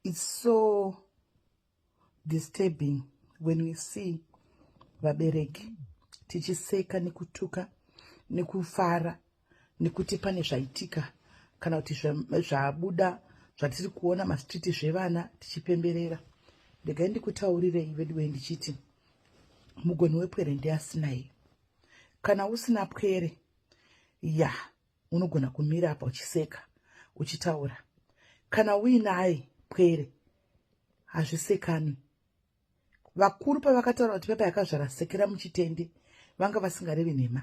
it's so disturbing when we see vabereki tichiseka nekutuka nekufara nekuti pane zvaitika kana kuti zvabuda zvatiri kuona mastreet zvevana tichipemberera regai ndikutaurirei veduwe ndichiti mugoni wepwere ndiasinai kana usina pwere ya unogona kumira apa uchiseka uchitaura kana uinaye pwere hazvisekanwi vakuru pavakataura kuti pepa yakazvara sekera muchitende vanga vasingarevi nhema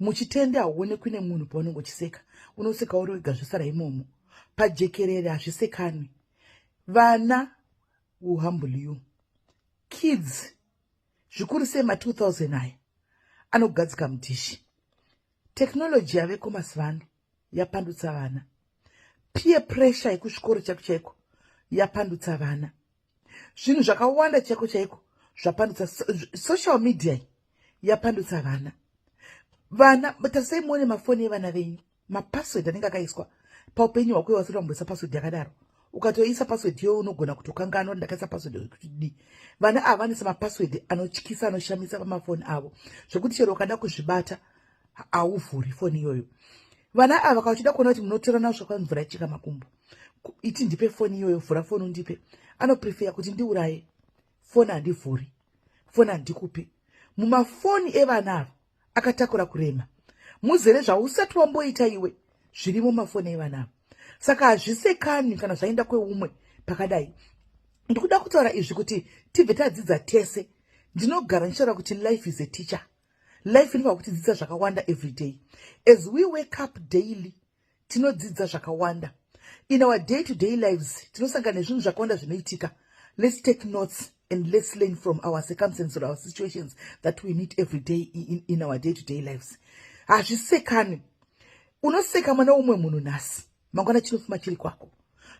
muchitende hauonekwi nemunhu paunenge uchiseka unoseka uri wega zvosara imomo pajekerere hazvisekanwi vana will humble you kids zvikuru sei ma 2000 aya anogadzika mudhishi Technology yaveko mazivano yapandutsa vana. Peer pressure yekuchikoro chako chaiko yapandutsa vana. Zvinhu zvakawanda chako chaiko zvapandutsa social media yapandutsa vana. Vana tarisai muone mafoni evana venyu mapassword anenge akaiswa paupenyu hwako iwasiri wamboisa password yakadaro ukatoisa password yo unogona kutokanganwa ndakaisa password yekuti di vana ava vanisa mapassword anotyisa anoshamisa pamafoni avo zvekuti chero ukada kuzvibata hauvhuri foni iyoyo vana ava kavachida kuona kuti munotorana zvakwa mvura ichika makumbo iti ndipe foni iyoyo vhura foni undipe anoprefeya kuti ndiuraye foni handivhuri foni handikupi mumafoni evana ava akatakura kurema muzere zvausati wamboita iwe zviri mumafoni evana ava saka hazvisekani kana zvaenda kweumwe pakadai ndikuda kutaura izvi kuti tibve tadzidza tese ndinogara ndichitaura kuti life is a teacher life inofa kutidzidza zvakawanda every day as we wake up daily tinodzidza zvakawanda in our day to day lives tinosangana nezvinhu zvakawanda zvinoitika let's take notes and let's learn from our circumstances or our situations that we meet every day in, in our day to day lives hazvisekani unoseka mwana umwe munhu nhasi mangwana chinofuma chiri kwako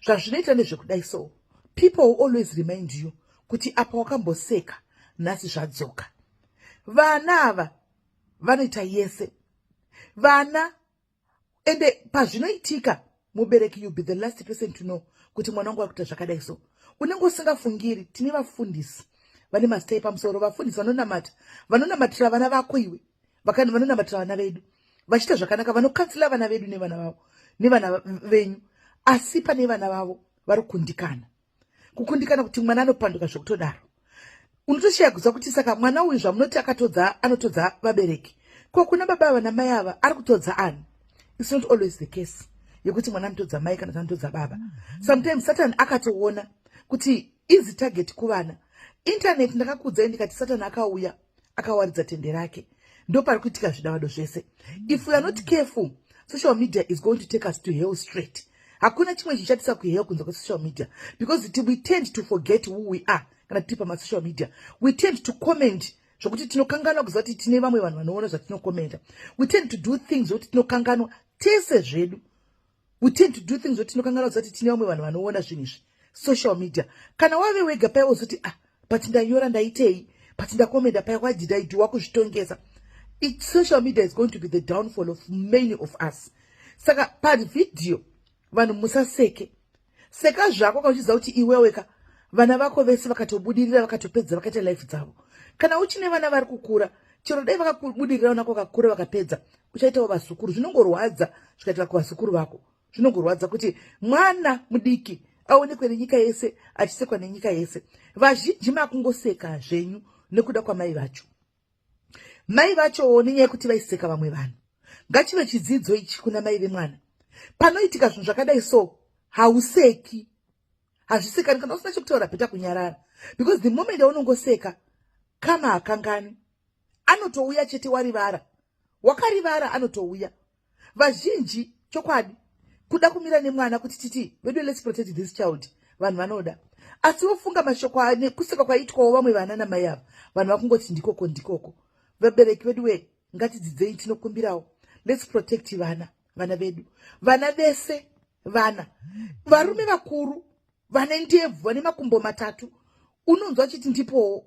zvazvinoita nezvekudai so people will always remind you kuti apa wakamboseka nhasi zvadzoka vana ava vanoita yese vana ende pazvinoitika mubereki you be the last person to know kuti mwana wangu akuita zvakadai so unenge usingafungiri tine vafundisi vane mazita epamusoro vafundisi vanonamata vanonamatira vana vako iwe vakani vanonamatira vana vedu vachiita zvakanaka vanokansila vana vedu nevana vavo nevana venyu asi pane vana vavo vari kundikana kukundikana kuti mwana anopanduka zvekutodaro unotoshaya kuziva kuti saka mwana uyu zvamunoti akatodza anotodza vabereki ko kuna baba ava namai ava ari kutodza ani its not always the case yekuti mwana anotodza mai kana anotodza baba sometimes satan akatoona kuti easy target kuvana internet ndakakuudzai ndikati satan akauya akawaridza tende rake ndopari kuitika zvidavado zvese if we are not careful social media is going to take us to hell straight hakuna chimwe chichatisa kuhell kunze kwesocial media because it, we tend to forget who we are kana tiri pamasocial media we tend to comment zvokuti tinokanganwa kuziva kuti tine vamwe vanhu vanoona zvatinokomenta we tend to do things zvokuti tinokanganwa tese zvedu we tend to do things zoti tinokanganwa zoti tine vamwe vanhu vanoona zvinhu izvi social media kana wave wega paya wozoti ah but ndanyora ndaitei but ndakomenda paya why did i do wakuzvitongesa it social media is going to be the downfall of many of us saka pavhidhiyo vanhu musaseke seka zvako ka uchiziva kuti iwewe ka vana vako vese vakatobudirira vakatopedza vakaita life dzavo kana uchine vana vari kukura chero dai vakakubudirira vanako vakakura vakapedza uchaitawo vazukuru zvinongorwadza zvikaitika kuvazukuru vako zvinongorwadza kuti mwana mudiki aonekwe nenyika yese achisekwa nenyika yese vazhinji makungoseka zvenyu nekuda kwamai vacho mai vachowo nenyaya yekuti vaiseka vamwe vanhu ngachive chidzidzo ichi kuna mai vemwana panoitika zvinhu zvakadai so hauseki hazvisekani kana usina chekutaura bheta kunyarara because the moment aunongoseka kama hakangani anotouya chete warivara wakarivara anotouya vazhinji chokwadi kuda kumira nemwana kuti titi vedu let's protect this child vanhu vanoda asi vofunga mashoko kuseka kwaitwawo vamwe vana namai ava vanhu vakungoti ndikoko ndikoko vabereki vedu wee ngatidzidzei tinokumbirawo let's protect vana vana vedu vana vese vana varume vakuru vane ndebvu vane makumbo matatu unonzwa chiti ndipowo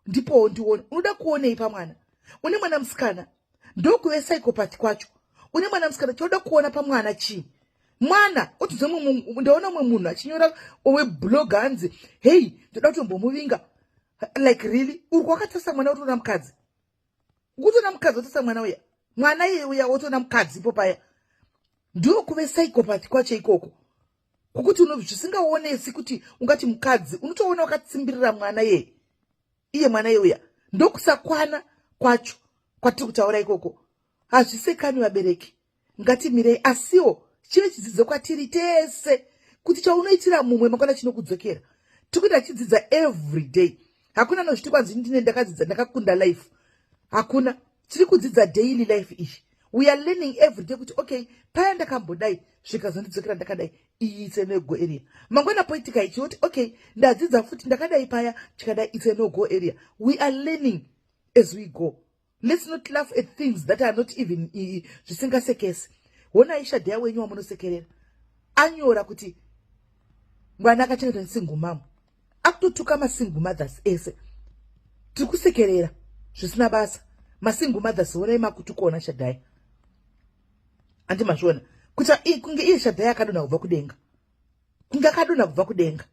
ndipowo ndione unoda kuonei pamwana une mwana musikana ndokuve psychopath kwacho une mwana musikana choda kuona pamwana chii mwana otinzwa ndaona umwe munhu achinyora owe blog hanzi hei ndoda kutombomuvinga like really uri kwakatarisa mwana otoona mukadzi ukutoona mukadzi otarisa mwana uya mwana iye uya otoona mukadzi ipo paya ndokuve psychopath kwacho ikoko kukuti uno zvisingaonesi kuti ungati mukadzi unotoona wakatsimbirira mwana yeye iye mwana yeuya ndokusakwana kwacho kwatiri kutaura ikoko hazvisekani vabereki ngatimirei asiwo chive chidzidzo kwatiri tese kuti chaunoitira mumwe makwana chinokudzokera tikuita chidzidza every day hakuna nozviti kwanzi ndine ndakadzidza ndakakunda life hakuna tiri kudzidza daily life izvi we are learning every day kuti okay paya ndakambodai zvikazondidzokera ndakadai iyi it's no go area mangwana poitika ichi woti okay ndadzidza futi ndakadai paya chikadai it's no go area we are learning as we go let's not laugh at things that are not even zvisingasekesi honai shadheya wenyu wamunosekerera anyora kuti mwana akachengetwa nesingumamu akutotuka masingle mothers ese tiri kusekerera zvisina basa masingle mothers honai makutukona shadhaya handi mazviona kuta kunge iye shadhaya akadonha kubva kudenga kunge akadonha kubva kudenga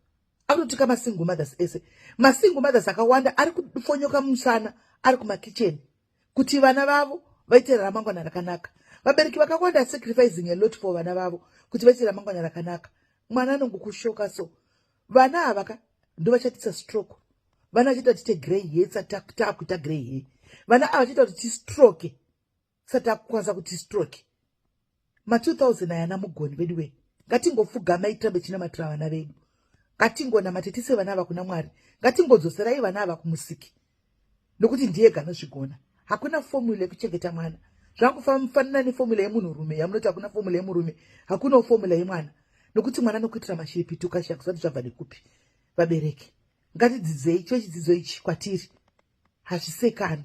akutotuka masingle mothers ese masingle mothers akawanda ari kufonyoka musana ari kumakicheni kuti vana vavo vaite ramangwana rakanaka vabereki vakawanda sacrificing a lot for vana vavo kuti vaite ramangwana rakanaka mwana anongokushoka so vana ava ka ndovachatisa stroke vana vachiita kuti tegrey he satakuita grey he vana ava vachiita kuti tistroke satakukwanisa kuti stroke ma 2000 ayana mugoni vedu wee ngatingofugamai tirambe chinamatira vana vedu ngatingonamate tise vana ava kuna mwari ngatingodzoserai vana ava kumusiki nokuti ndiye ganozvigona hakuna fomula yekuchengeta mwana zvakufanana nefomula yemunhurume yamunoti hakuna fomula yemurume hakunawo fomula yemwana nokuti mwana nokuitira mashiripiti ukashaya kusati zvabva nekupi vabereki ngatidzidzei chochidzidzo ichi kwatiri hazvisekani